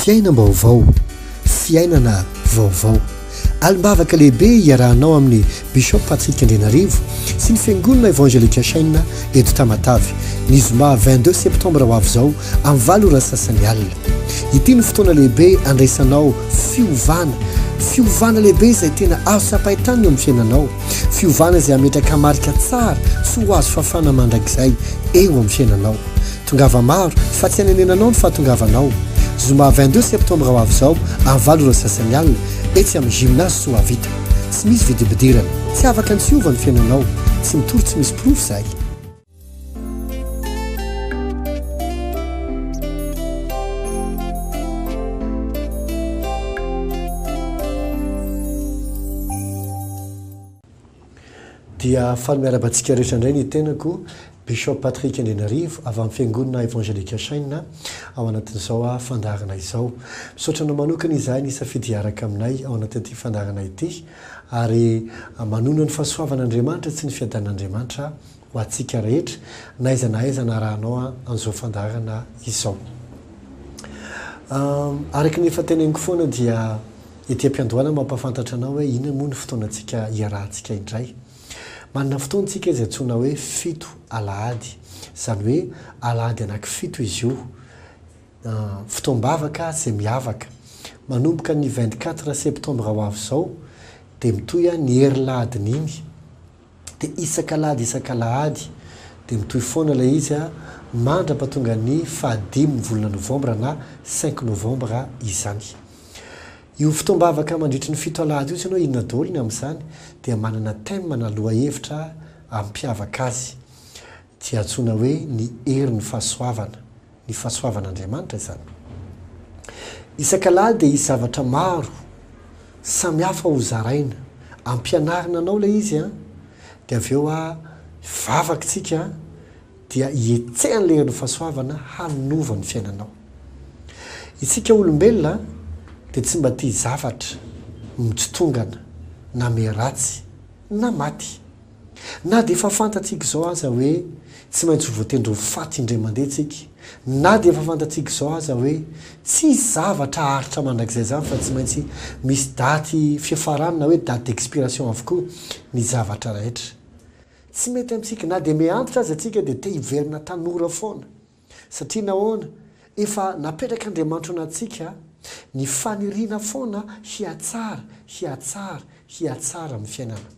Fiainam-baovao, fiainana vaovao. Alim-bavaka lehibe iarahanao amin'i Bishop Patrick Andrianarivo sy ny Fiangonana Evangelika Chaîne eto Tamatave, ny zoma vingt deux septembre ho avy izao amin'ny valo ora sasany alina. Ity no fotoana lehibe andraisanao fiovana, fiovana lehibe izay tena azo tsapain-tanana eo amin'ny fiainanao, fiovana izay hametraka marika tsara sy ho azo fafana mandrakizay eo amin'ny fiainanao. Tongava maro fa tsy anenenanao ny fahatongavanao. Zoma vingt deux septembre ho avy izao amin'ny valo ora sy sasany alina etsy amin'ny Gymnase Soavita. Tsy misy vidim-pidirana. Tsy afaka ny tsy hiova ny fiainanao. Tsy mitory tsy misy porofo izahay. Dia faly miarahaba antsika rehetra indray ny tenako, Bishop Patrick Andrianarivo, avy amin'ny Fiangonana Evangelique Shine, ao anatin'izao fandaharana izao. Misaotra anao manokana izahay nisafidy hiaraka aminay ao anatin'ity fandaharana ity, ary manonona ny fahasoavan'Andriamanitra sy ny fiadanan'Andriamanitra ho antsika rehetra na aiza na aiza anarahanao an'izao fandaharana izao. Araka ny efa teneniko foana dia ety am-piandohana no mampahafantatra anao hoe inona moa ny fotoanantsika hiarahantsika indray. Manana fotoana isika izay antsoina hoe fito alahady. Izany hoe alahady anankifito izy io. Fotoam-bavaka izay miavaka. Manomboka ny vingt-quatre septembre ho avy izao dia mitohy ny herin'lahadin'iny. dia isak'alahady isak'alahady dia mitohy foana ilay izy mandrapatonga ny fahadimy ny volana novambra na cinq novembre izany. Io fotoam-bavaka mandritry ny fito alahady io tsy hainao inona daholo ny amin'izany dia manana thème na lohahevitra ampiavaka azy. Dia antsoina hoe ny herin'ny fahasoavana, ny fahasoavan'Andriamanitra izany. Isak'Alahady dia hisy zavatra maro samy hafa ho zaraina, ampianarina anao ilay izy an, dia avy eo a, hivavaka isika dia hihetsehan'ilay herin'ny fahasoavana hanova ny fiainanao. Isika olombelona dia tsy mba tia zavatra mitsitongana na miharatsy na maty. Na dia efa fantatsika izao aza hoe tsy maintsy ho voatendry ho faty indray mandeha isika, na dia efa fantatsika izao aza hoe tsy hisy zavatra haharitra mandrakizay izany fa tsy maintsy misy daty fiafarany na hoe date d'expiration avokoa ny zavatra rehetra tsy mety amintsika, na dia miha-antitra aza isika dia te hiverina tanora foana. Satria nahoana? Efa napetrak'Andriamanitra ao anatintsika ny faniriana foana hihatsara, hihatsara, hihatsara amin'ny fiainana.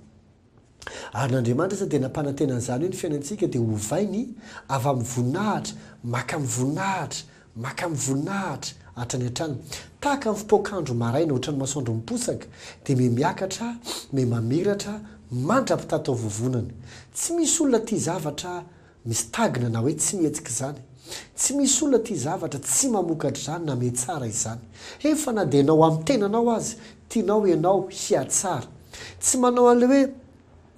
Ary na Andriamanitra aza dia nampanantena an'izany hoe ny fiainantsika dia hovainy avy amin'ny voninahitra mankamin'ny voninahitra, mankamin'ny voninahitra hatrany hatrany. Tahaka ny fipoakandro maraina hoatran'ny masoandro miposaka, dia miha miakatra, miha mamiratra mandra-pitataovovonana. Tsy misy olona tia zavatra Misy tagina na hoe tsy mihetsika izany. Tsy misy olona tia zavatra tsy mamokatra izany na mihatsara izany. Efa na dia ianao amin'ny tenanao aza, tianao ianao hihatsara. Tsy manao an'ilay hoe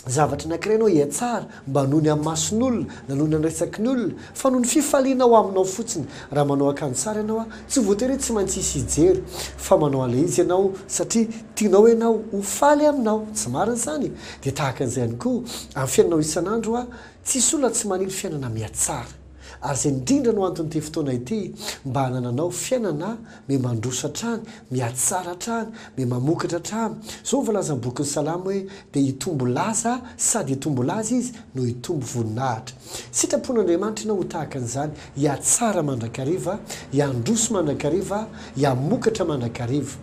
zavatra anankiray ianao hihatsara mba noho ny amin'ny mason'olona na noho ny amin'ny resaky ny olona, fa noho ny fifaliana ao aminao fotsiny. Raha manao akanjo tsara ianao, tsy voatery hoe tsy maintsy hisy hijery, fa manao an'ilay izy ianao satria tianao ianao ho faly aminao. Tsy marina izany? Dia tahaka an'izay ihany koa, amin'ny fiainanao isan'andro, Tsisy olona tsy maniry fiainana mihatsara, ary izay indrindra no anton'ity fotoana ity mba hanananao fiainana mihamandroso hatrany, mihatsara hatrany, mihamamokatra hatrany. Izao ny voalazan'ny bokin'ny Salamo hoe, Dia hitombo laza sady hitombo laza izy no hitombo voninahitra. Sitrapon'Andriamanitra ianao ho tahaka an'izany, hihatsara mandrakariva, hihandroso mandrakariva, hihamokatra mandrakariva.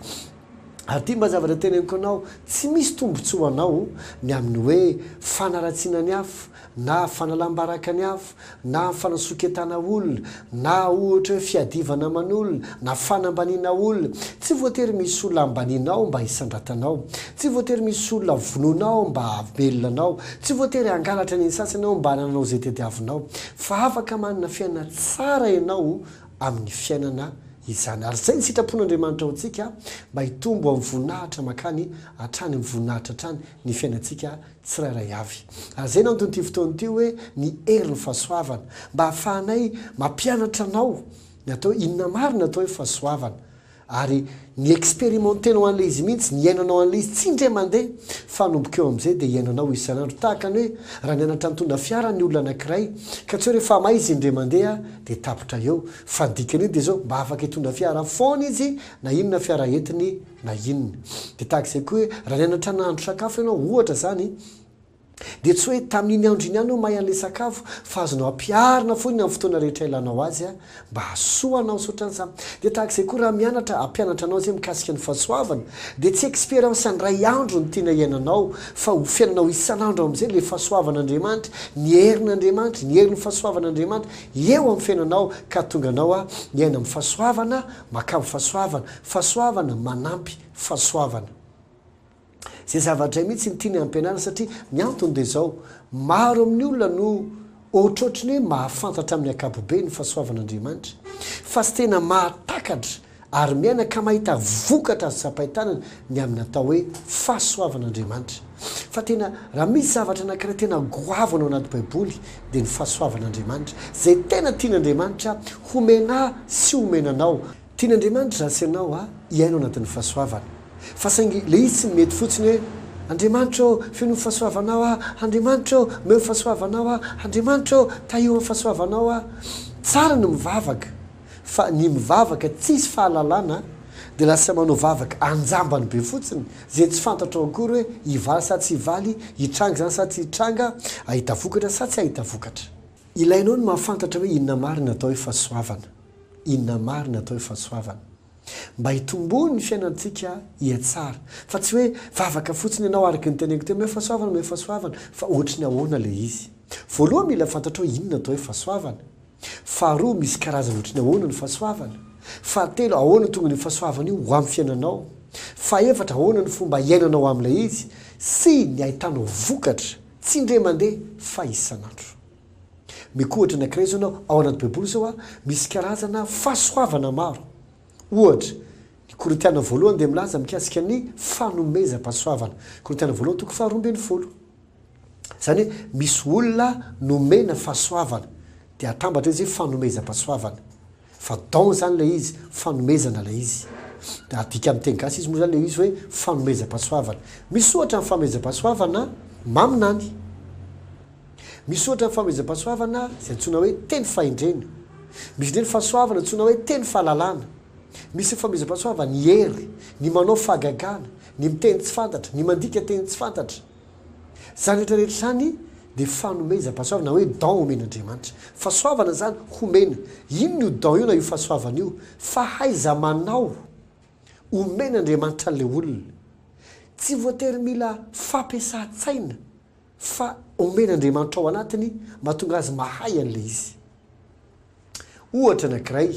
Ary ity mba zavatra teneniko anao, tsy misy tombontsoa ho anao ny amin'ny hoe fanaratsiana ny afo, na fanalam-baraka ny afo, na fanasoketana olona, na ohatra hoe fiadivana aman'olona, na fanambaniana olona. Tsy voatery misy olona ambanianao mba hisandratanao. Tsy voatery misy olona vonoinao mba hahavelona anao. Tsy voatery hangalatra ny sasany ao mba hanananao izay tadiavinao. Fa afaka manana fiainana tsara ianao amin'ny fiainana izany. Ary izay ny sitrapon'Andriamanitra ho antsika, mba hitombo amin'ny voninahitra mankany hatrany amin'ny voninahitra hatrany ny fiainantsika tsirairay avy. Ary izay no anton'ity fotoana ity hoe ny herin'ny fahasoavana, mba hahafahanay mampianatra anao ny atao hoe inona marina atao hoe fahasoavana, Ary ny experimentenao an'ilay izy mihitsy, ny iainanao an'ilay izy, tsy indray mandeha, fa anomboka eo amin'izay dia iainanao isan'andro. Tahaka ny hoe raha nianatra nitondra fiara ny olona anankiray, ka tsy hoe rehefa may izy indray mandeha dia tapitra eo. Fa ny dikan'io dia izao, mba afaka hitondra fiara foana izy na inona fiara entiny na inona. Dia tahaka izay koa hoe raha nianatra nahandro sakafo ianao, ohatra izany, Dia tsy hoe tamin'iny andro iny ihany aho mahay an'ilay sakafo, fa azonao ampiharina foana amin'ny fotoana rehetra ilanao azy mba hahasoa anao. Saotra ansa. Dia tahaka izay koa raha mianatra hampianatra anao izay mikasika ny fahasoavana, dia tsy expérience indray andro no tiana hiainanao, fa ho fiainanao isan'andro amin'izay ilay fahasoavan'Andriamanitra, ny herin'Andriamanitra, ny herin'ny fahasoavan'Andriamanitra eo amin'ny fiainanao ka hahatonga anao hiaina amin'ny fahasoavana, makamo fahasoavana, fahasoavana manampy fahasoavana. Izay zava-dray mihitsy ny tiany hampianarina satria ny antony dia izao, maro amin'ny olona no ohatrohatry ny hoe mahafantatra amin'ny ankapobeny ny fahasoavan'Andriamanitra fa tsy tena mahatakatra ary miaina ka mahita vokatra azo tsapain-tanana ny amin'ny atao hoe fahasoavan'Andriamanitra fa tena raha misy zavatra anankiray tena goavana ao anaty baiboly dia ny fahasoavan'Andriamanitra izay tena tian'Andriamanitra homena sy homena anao Tian'Andriamanitra izaho sy ianao hiaina ao anatin'ny fahasoavana. Fa saingy ilay izy tsy mety fotsiny hoe, Andriamanitra ô, fenoy ny fahasoavanao aho, Andriamanitra ô, omeo ny fahasoavanao aho, Andriamanitra ô, tahio amin'ny fahasoavanao aho. Tsara ny mivavaka, fa ny mivavaka tsisy fahalalana dia lasa manao vavaka anjambany be fotsiny, izay tsy fantatrao akory hoe hivaly sa tsy hivaly, hitranga izany sa tsy hitranga, hahita vokatra sa tsy hahita vokatra. Ilainao ny mahafantatra hoe inona marina atao hoe fahasoavana, inona marina atao hoe fahasoavana. Mba hitomboany ny fiainantsika hihatsara. Fa tsy hoe vavaka fotsiny ianao araka ny teneniko teo, omeo fahasoavana, omeo fahasoavana, fa ohatry ny ahoana ilay izy. Voalohany mila fantatrao inona atao hoe fahasoavana. Faharoa misy karazany ohatry ny ahoana ny fahasoavana. Fahatelo ahoana tonga io fahasoavana io ho amin'ny fiainanao. Fahefatra ahoana ny fomba hiainanao amin'ilay izy sy ny ahitanao vokatra. Tsy indray mandeha fa isan'andro. Meko ohatra anankiray izao ianao, ao anaty baiboly izao a, misy karazana fahasoavana maro. Ohatra, ny Korintiana voalohany dia milaza mikasika ny fanomezam-pahasoavana, Korintiana voalohany toko faharoa ambin'ny folo. Izany hoe misy olona nomena fahasoavana, dia atambatra izy hoe fanomezam-pahasoavana. Fa don zany ilay izy, fanomezana ilay izy. Dia adika amin'ny teny gasy izy moa izany ilay izy hoe fanomezam-pahasoavana. Misy ohatra ny fanomezam-pahasoavana maminany. Misy ohatra ny fanomezam-pahasoavana izay antsoina hoe teny fahendrena. Misy indray ny fahasoavana antsoina hoe teny fahalalana. Misy ny fanomezam-pahasoavana ny hery, ny manao fahagagana, ny miteny tsy fantatra, ny mandika teny tsy fantatra. Izany rehetra rehetra izany dia fanomezam-pahasoavana na hoe don omen'Andriamanitra. Fahasoavana izany homena. Inona io don io na io fahasoavana io? Fahaiza-manao omen'Andriamanitra an'ilay olona. Tsy voatery mila fampiasan-tsaina fa omen'Andriamanitra ao anatiny mahatonga azy mahay an'ilay izy. Ohatra anankiray,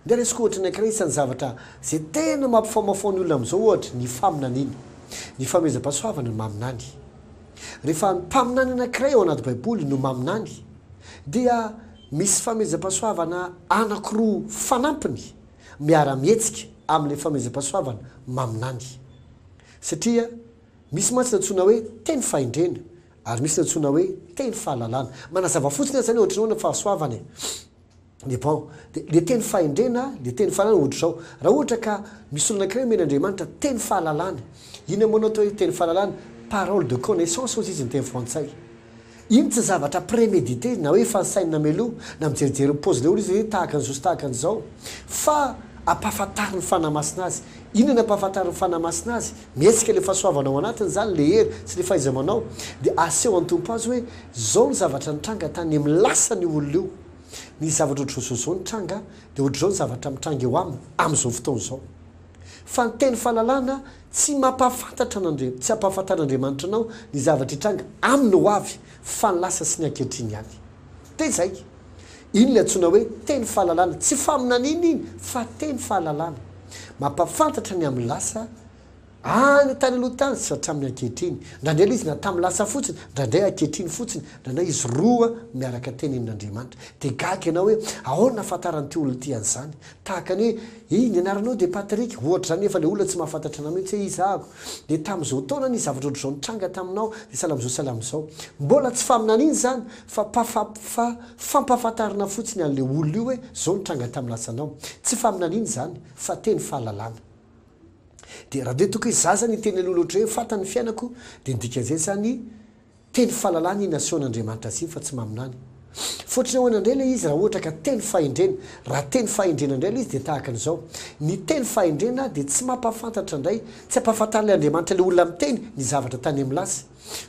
andeha raisiko ohatra anankiray isan'ny zavatra izay tena mampifamaofao ny olona amin'izao ohatra ny faminaniana, ny fanomezam-pahasoavana ny maminany. Rehefa mpaminany anankiray ao anaty baiboly no maminany dia misy famezam-pahasoavana anankiroa fanampiny miara-mihetsika amin'ilay famezam-pahasoavana maminany. Satria misy mantsy ny antsoina hoe teny fahendrena Ary misy ny antsoina hoe teny fahalalana. Manazava fotsiny aza ny ohatr'ireo any amin'ny fahasoavana e. Dia bon, dia ilay teny fahendrena, ilay teny fahalalana ohatr'izao. Raha ohatra ka misy olona anankiray omena Andriamanitra teny fahalalana, inona moa no atao hoe teny fahalalana? Parole de connaissance hozy izy ny teny frantsay. Iny tsy zavatra prémédité na hoe efa nisainy nameloha, na mijerijery mipaozy ilay olona izy hoe tahaka an'izao sy tahaka an'izao. Fa ampahafantarin'ny Fanahy Masina azy. Inona no ampahafantarin'ny Fanahy Masina azy? Mihetsika ilay fahasoavana ao anatiny izany, ilay hery sy ilay fahaiza-manao, dia aseho an'ny Tompo azy hoe, Izao ny zavatra nitranga tany amin'ny lasan'io olona io. Nisy zavatra ohatr'izaozao nitranga, dia ohatr'izao ny zavatra mitranga eo aminy amin'izao fotoana izao. Fa ny teny fahalalana tsy mampahafantatra an'Andriamanitra, tsy hampahafantar'Andriamanitra anao ny zavatra hitranga amin'ny hoavy, fa ny lasa sy ny ankehitriny ihany. Dia izay. Iny ilay antsoina hoe teny fahalalana. Tsy faminaniana iny fa teny fahalalana. Mampahafantatra ny amin'ny lasa, any tany aloha tany sy hatramin'ny ankehitriny. Ndraindray ilay izy na tamin'ny lasa fotsiny, ndraindray ankehitriny fotsiny, ndraindray izy roa miaraka teny amin'Andriamanitra. Dia gaga ianao hoe ahoana ahafantaran'ity olona ity an'izany? Tahaka ny hoe, Hey, ny anaranao dia Patrick, ohatra izany, nefa ilay olona tsy mahafantatra anao mihitsy hoe iza aho. Dia tamin'izao taona nisy zavatra ohatr'izao nitranga taminao, dia sahala amin'izao, sahala amin'izao. Mbola tsy faminaniana izany, fa pafa, fa fampahafantarana fotsiny an'ilay olona io hoe izao nitranga tamin'ny lasanao. Tsy faminaniana izany, fa teny fahalalana. Dia raha dia toky zaza niteny an'olona ohatr'izay hoe, Fantany ny fiainako, dia ny dikan'izay izany, Telo fahalalana iny asehon'Andriamanitra azy iny fa tsy maminany. Fotony ahoana indray ilay izy raha ohatra ka telo fahendrena? Raha telo fahendrena indray ilay izy dia tahaka an'izao, ny telo fahendrena dia tsy mampahafantatra indray, tsy ampahafantarin'ilay Andriamanitra ilay olona miteny ny zavatra tany amin'ny lasa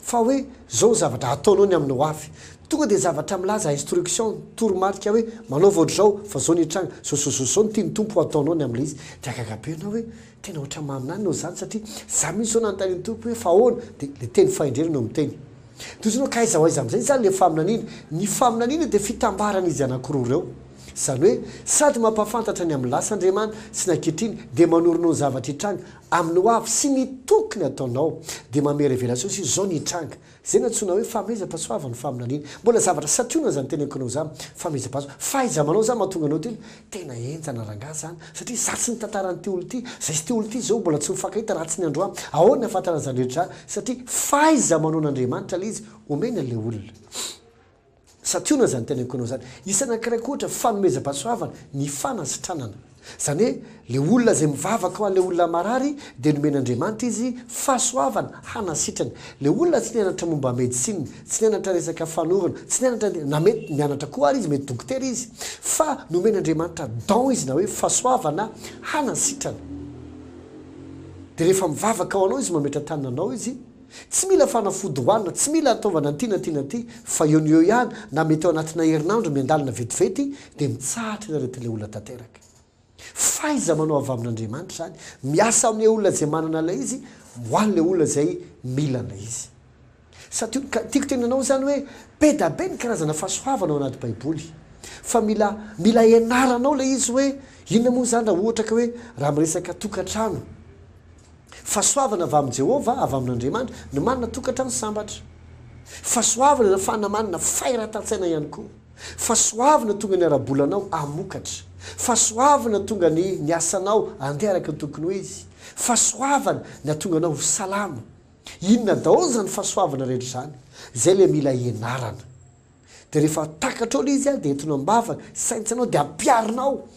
fa hoe izao ny zavatra hataonao ny amin'ny hoavy. Tonga dia zavatra milaza instruction, toromarika hoe manaova ohatr'izao fa izao ny hitranga, izao izao izao izao no tian'ny Tompo ho ataonao ny amin'ilay izy. Dia hagaga be ianao hoe Tena ohatran'ny maminany nao izany satria za mihintsy zao nanontany an'i Toky hoe fa ahoana dia le teny fahendrena no miteny. Dia ohatran'ny hoe ka aiza ho aiza amin'izay izany le faminaniana. Ny faminaniana dia fitambaran'izy anankiroa ireo. Izany hoe sady mampahafantatra ny amin'ny lasa Andriamana sy ny ankehitriny dia manoronao ny zavatra hitranga amin'ny hoavy sy ny tokony ataonao. Dia mamery revelation sy izao ny hitranga. Izay nantsoina hoe fahamezapaso avo ny faminaniana. Mbola zavatra santionana izany teny ankinao izany. Fahamezapaso. Fahaizamanao izany mahatonga anao tena. Tena henjana rangaha izany. Satria izaho tsy nitantara an'ity olona ity. Izay sy ity olona ity izao mbola tsy mifankahita raha tsy ny andro ahy. Ahoana ny hahafantarany izany rehetra izany? Satria fahaiza-manaon'Andriamanitra ilay izy omeny an'ilay olona. Santionana izany tena ekonao izany. Isa anankiray koa ohatra, fanomezam-pahasoavana, ny fanasitranana. Izany hoe, ilay olona izay mivavaka ho an'ilay olona marary dia nomen'Andriamanitra izy fahasoavana hanasitrany. Ilay olona tsy nianatra momba medecine, tsy nianatra resaka fanorona, tsy nianatra ny, na mety nianatra koa ary izy, mety dokotera izy, fa nomen'Andriamanitra don izy na hoe fahasoavana hanasitrana. Dia rehefa mivavaka ho anao izy, mametra-tanana anao izy, Tsy mila fanafody hohanina, tsy mila ataovana an'ity na ity na ity, fa eo no eo ihany na mety ao anatina herinandro miandalana vetivety dia mitsahatra ny aretin'ilay olona tanteraka. Fahaiza-manao avy amin'Andriamanitra izany, miasa amin'ilay olona izay manana ilay izy, ho an'ilay olona izay mila ilay izy. Satio, ka tiako tenenanao izany hoe be da be ny karazana fahasoavana ao anaty baiboly, fa mila mila ianaranao ilay izy hoe inona moa izany raha ohatra ka hoe raha miresaka tokantrano, Fahasoavana avy amin'i Jehovah, avy amin'Andriamanitra, ny manana tokantrano sambatra. Fahasoavana nafahana manana fahiratan-tsaina ihany koa. Fahasoavana tonga ny ara-bolanao hamokatra. Fahasoavana tonga ny ny asanao handeha araka ny tokony ho izy. Fahasoavana ny hahatonga anao ho salama. Inona daholo izany fahasoavana rehetra izany? Izay ilay mila ianarana. Dia rehefa takatrao ilay izy dia entinao am-bavaka, saintsinao dia ampiharina ao,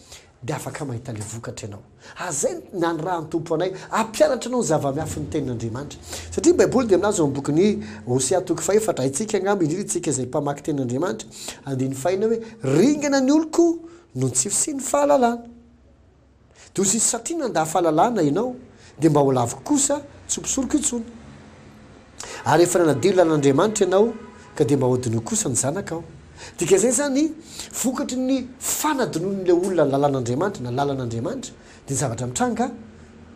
dia afaka mahita ilay vokatra ianao. Azay ny nanirahan'ny Tompo anay hampianatra anao ny zava-mihafy ny Tenin'Andriamanitra. Satria ny Baiboly dia milaza ao amin'ny bokin'i Hosea toko fahefatra, haintsika angamba indrindra isika izay mpamaky Tenin'Andriamanitra, andininy fahina hoe, Ringana ny oloko noho ny tsy fisian'ny fahalalana. Doza izy satria nanda fahalalana ianao dia mba ho laviko kosa tsy ho mpisoroko intsony. Ary efa nanadio ny lalan'Andriamanitra ianao ka dia mba hodinoiko kosa ny zanakao. Dikan'izay izany vokatry ny fanadinoan'ilay olona ny lalan'Andriamanitra na lalan'Andriamanitra dia ny zavatra mitranga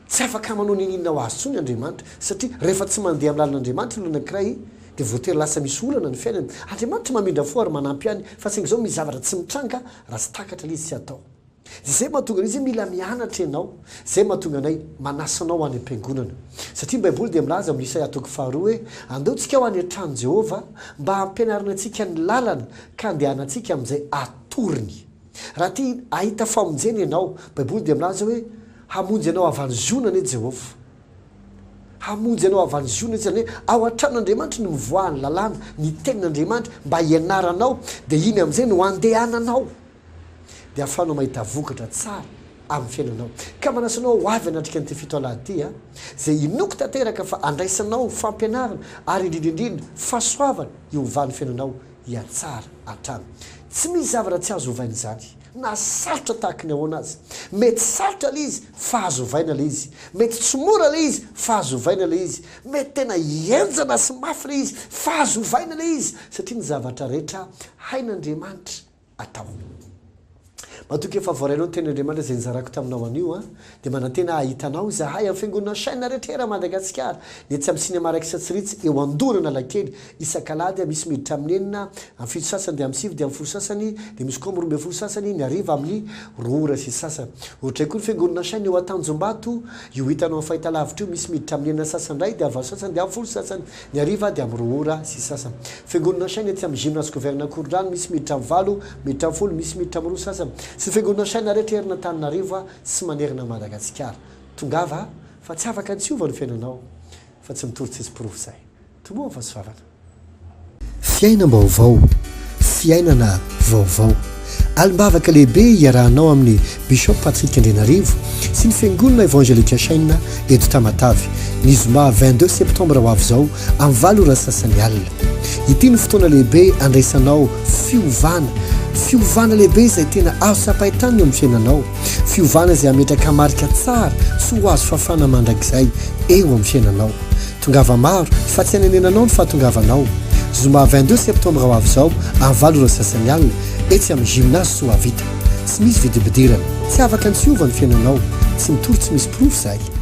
tsy afaka manao n'inon'inona ho azy intsony Andriamanitra satria rehefa tsy mandeha amin'ny lalan'Andriamanitra ny olona anankiray dia voatery lasa misy olana ny fiainany. Andriamanitra mamindra fo ary manampy ihany fa saingy izao misy zavatra tsy mitranga raha tsy takatra ilay izy tsy atao. Izay mahatonga anay izay mila mianatra ianao, izay mahatonga anay manasa anao ho any am-piangonana. Satria ny Baiboly dia milaza amin'ny Isaia toko faharoa hoe, Andao tsika ho any an-tranon'i Jehovah, mba hampianarina antsika ny lalany, ka handehanantsika amin'izay atorony. Raha te hahita famonjena ianao, Baiboly dia milaza hoe, Hamonjy anao avy any Ziona anie Jehovah. Hamonjy anao avy any Ziona, izany hoe ao an-tranon'Andriamanitra no mivoaha ny lalàna, ny tenin'Andriamanitra, mba hianaranao, dia iny amin'izay no handehananao. dia ahafahanao mahita vokatra tsara amin'ny fiainanao. Ka manasa anao ho avy hanatrika an'ity fito alahady ity a! izay inoako tanteraka fa andraisanao fampianarana ary indrindra indrindra fahasoavana hiovan'ny fiainanao hihatsara hatrany. Tsy misy zavatra tsy azo ovaina izany na sarotra tahaka ny ahoana aza. Mety sarotra ilay izy fa azo ovaina ilay izy. Mety tsy mora ilay izy fa azo ovaina ilay izy. Mety tena henjana sy mafy ilay izy fa azo ovaina ilay izy satria ny zavatra rehetra hain'Andriamanitra. atao. Matoky efa voarainao ny teny Andriamanitra izay nizarako taminao anio an! Dia manantena hahita anao izahay amin'ny fiangonana chaine rehetra eran Madagasikara, ny etsy amin'ny cinema Raikitra tsy ritsy eo Andohan' Analakely, isak'alahady misy miditra amin'ny enina, amin'ny fito sasany dia amin'ny sivy dia amin'ny folo sasany, dia misy koa amin'ny roa ambin'ny folo sasany, ny hariva amin'ny roa ora sy sasany. Ohatray koa ny fiangonana chaine eo Antanjombato, io hitanao amin'ny fahitalavitra io, misy miditra amin'ny enina sasany indray dia valo sasany dia amin'ny folo sasany. Ny hariva dia amin'ny roa ora sy sasany. Fiangonana Shine etsy amin'ny Gymnase Gouverneur Koridrano, misy miditra amin'ny valo, miditra amin'ny folo, misy miditra amin'ny roa sasany. Sy ny Fiangonana Shine rehetra eran' Antananarivo sy manerana an'i Madagasikara. Tongava fa tsy afaka ny tsy hiova ny fiainanao fa tsy mitory tsisy porofo izay. Tomboa ny fahasoavana. Fiainam-baovao. Fiainana vaovao. Alim-bavaka lehibe iarahanao amin'ny Bishop Patrick Andrianarivo sy ny Fiangonana Evangelika Shaina eto Tamatave, ny zoma vingt deux septembre ho avy izao amin'ny valo ora sasany alina. Ity no fotoana lehibe andraisanao fiovana, fiovana lehibe izay tena azo tsapain-tanana eo amin'ny fiainanao, fiovana izay hametraka marika tsara tsy ho azo fafana mandrakizay eo amin'ny fiainanao. Tongava maro fa tsy anenenanao ny fahatongavanao. Zoma vingt deux septembre ho avy izao amin'ny valo ora sy sasany alina etsy amin'ny Gymnase Soavita. Tsy misy vidim-pidirana. Tsy afaka ny tsy hiova ny fiainanao. Tsy mitory tsy misy porofo izahay.